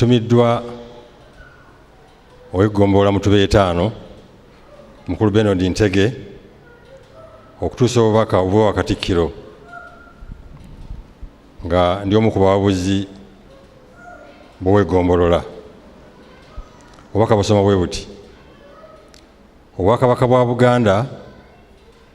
tumiddwa ow'eggombolola mutuba etaano mukulu benard ntege okutuusa obubaka obuba wakatikkiro nga ndi omu ku bawabuzi boweggombolola obubaka busoma bwe buti obwakabaka bwa buganda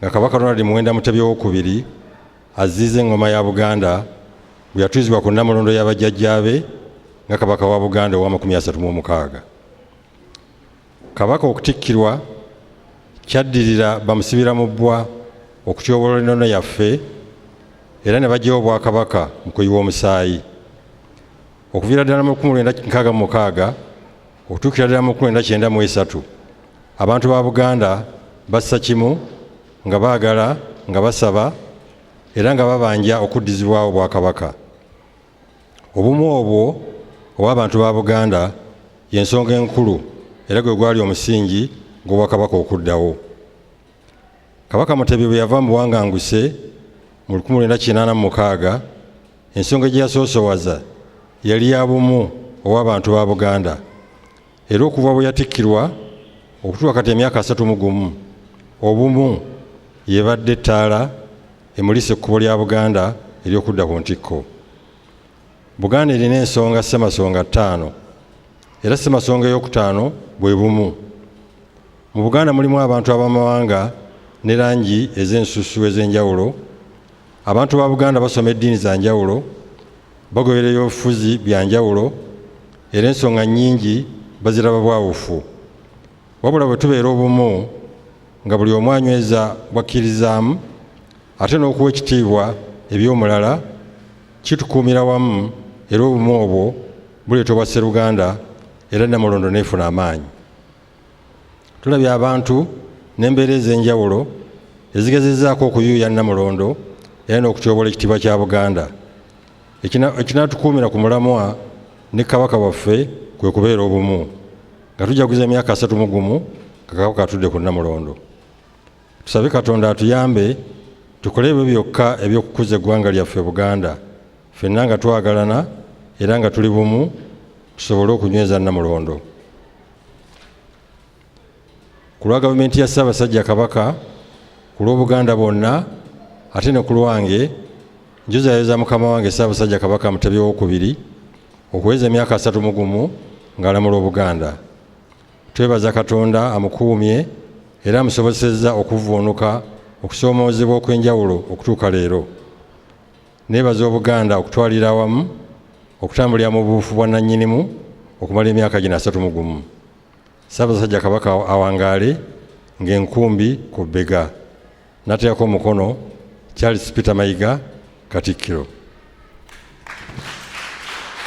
nga kabaka ronald muwenda mutebi owokubiri aziiza engoma ya buganda bwe yatwizibwa ku nnamulondo ya bajjajjaabe nga kabaka wa buganda owamakumi asatu mu omukaaga kabaka okutikkirwa kyaddirira bamusibira mu bbwa okutyoboola enono yaffe era ne bajjawo obwakabaka mu kuyiwa omusaayi okuviira ddala mu 1966 Okutuukira ddala mu kumi na kyenda mu esatu abantu ba Buganda bassa kimu nga baagala nga basaba era nga babanja okuddizibwawo Obwakabaka. Obumu obwo obw'abantu ba Buganda y'ensonga enkulu era gwe gwali omusingi gw'Obwakabaka okuddawo. kabaka mutebi bwe yava mu buwanganguse mu 1986 ensonga gye yasoosowaza yali ya bumu ow'abantu ba buganda era okuva bwe yatikkirwa okutuuka kati emyaka asatu mu gumu obumu yebadde ettaala emulisa ekkubo lya buganda ery'okudda ku ntikko buganda erina ensonga ssemasonga ttaano era ssemasonga ey'okutaano bwe bumu Mu Buganda mulimu abantu ab'amawanga ne langi ez'ensusu ez'enjawulo. Abantu ba Buganda basoma eddiini za njawulo, bagoberera ebyobufuzi bya njawulo era ensonga nnyingi baziraba bwawufu. Wabula bwe tubeera obumu nga buli omu anyweza bw'akkirizaamu ate n'okuwa ekitiibwa eby'omulala kitukuumira wamu era obumu obwo buleeta obwasseruganda era Nnamulondo n'efuna amaanyi. tulabye abantu n'embeera ez'enjawulo ezigezezaako okuyuuya nnamulondo era n'okutyobola ekitiibwa kya buganda ekinaatukuumira ku mulamwa ne kabaka waffe kwe kubeera obumu nga tujaguza emyaka asatu mu gumu nga kabaka atudde ku nnamulondo tusabe katonda atuyambe tukole ebyo byokka eby'okukuza eggwanga lyaffe buganda fenna nga twagalana era nga tuli bumu tusobole okunyweza nnamulondo ku lwa gavumenti ya ssaabasajja kabaka ku lw'obuganda bwonna ate ne ku lwange njuzayoza mukama wange ssaabasajja kabaka mutebi owokubiri okuweza emyaka asatu mu gumu ng'alamula obuganda twebaza katonda amukuumye era amusobozesezza okuvvuunuka okusoomoozebwa okw'enjawulo okutuuka leero Neebaza Obuganda okutwalira awamu okutambulira mu buufu bwa nannyinimu okumala emyaka gino asatu mu gumu. Ssaabasajja Kabaka awangaale ng'enkumbi ku bbega. Nateekako omukono, Charles Peter Mayiga, Katikkiro.